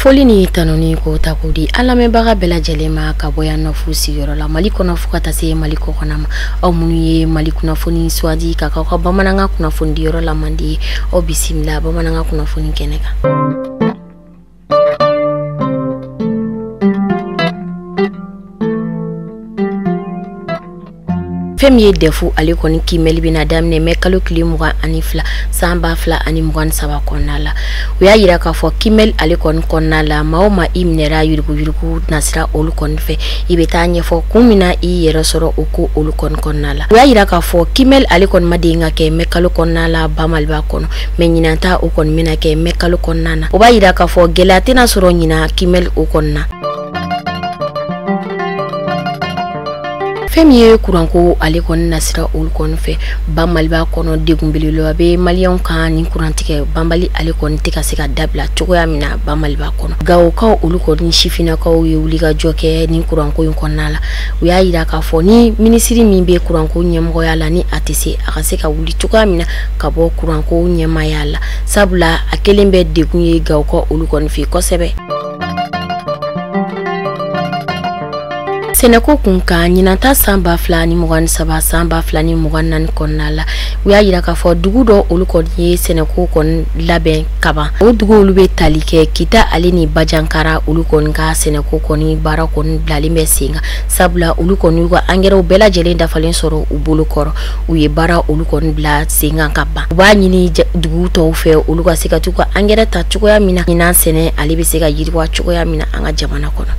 foli ni tanuni ko ta ko di an lamɛnbaga bɛɛ lajɛlen ma ka bɔ yan nɔfu sigiyɔrɔ la mali kɔnɔ fo ka taa se mali kɔkɔna ma aw minnu ye mali kunnafoni sugandi ka k'aw ka bamanankan kunnafonidiyɔrɔ la mandi ye aw bisimila bamanankan kunnafoni kɛnɛ kan fɛn min ye dɛfu ale kɔni kiimɛli bɛna daminɛ mɛ kalo tile mugan ani fila san ba fila ani mugan ni saba kɔnɔna la u y'a yira k'a fɔ kiimɛli ale kɔni kɔnɔna la maa o maa i minɛra yuruguyurugu nasira olu kɔni fɛ i bɛ t'a ɲɛfɔ kun min na i yɛrɛ sɔrɔ o ko olu kɔni kɔnɔna la u y'a yira k'a fɔ kiimɛli ale kɔni ma deli ka kɛ mɛ kalo kɔnɔna la ba maliba kɔnɔ mɛ ɲinan ta o kɔni bɛna kɛ mɛ kalo kɔnɔna na o b'a yira k'a fɔ gɛlɛya tɛna sɔrɔ ɲinan kiimɛli o kɔnɔna fɛn min ye kuranko ale kɔni nasira olu kɔni fɛ ba maliba kɔnɔ degun belebeleba bɛ maliyɛnw kan ni kurantigɛ banbali ale kɔni tɛ ka se ka dabila cogoya min na ba maliba kɔnɔ gawokaw olu kɔni sifinnakaw ye wulikajɔ kɛ ni kuranko in kɔnɔna la u y'a yira k'a fɔ ni minisiri min bɛ kuranko ɲɛmɔgɔya la ni a tɛ se a ka se ka wuli cogoya min na ka bɔ kuranko ɲɛmaaya la sabula a kɛlen bɛ degun ye gawokaw olu kɔni fɛ kosɛbɛ sɛnɛko kun kan ɲinan ta san ba fila ni mugan ni saba san ba fila ni mugan naani kɔnɔna la u y'a yira k'a fɔ dugu dɔ olu kɔni ye sɛnɛko kɔni labɛn kaban o dugu olu bɛ tali kɛ kita ale ni bajankara olu kɔni ka sɛnɛko kɔni baara kɔni bilalen bɛ sen kan sabula olu kɔni y'u ka angɛrɛw bɛɛ lajɛlen dafalen sɔrɔ u bolo kɔrɔ u ye baara olu kɔni bila sen kan ka ban u b'a ɲini dugu tɔw fɛ olu ka se ka t'u ka angɛrɛ ta cogoya min na ɲinan sɛnɛ ale bɛ se ka yiriwa cogoya min na an ka jamana kɔnɔ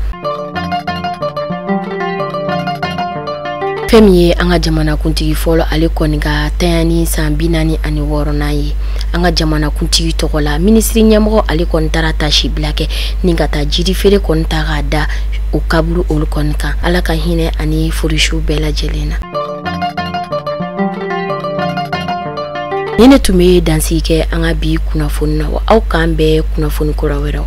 fɛn min ye an ka jamanakuntigi fɔlɔ ale kɔni ka tanya ni san bi naani ani wɔɔrɔnan ye an ka jamanakuntigi tɔgɔ la minisiri ɲɛmɔgɔ ale kɔni taara taasibila kɛ ni ka taa jiri feere kɔni ta k'a da o kaburu olu kɔni kan ala ka hinɛ a ni furesuw bɛɛ lajɛlen na ni ne tun bɛ dansigi kɛ an ka bi kunnafoni na wa aw k'an bɛn kunnafoni kura wɛrɛw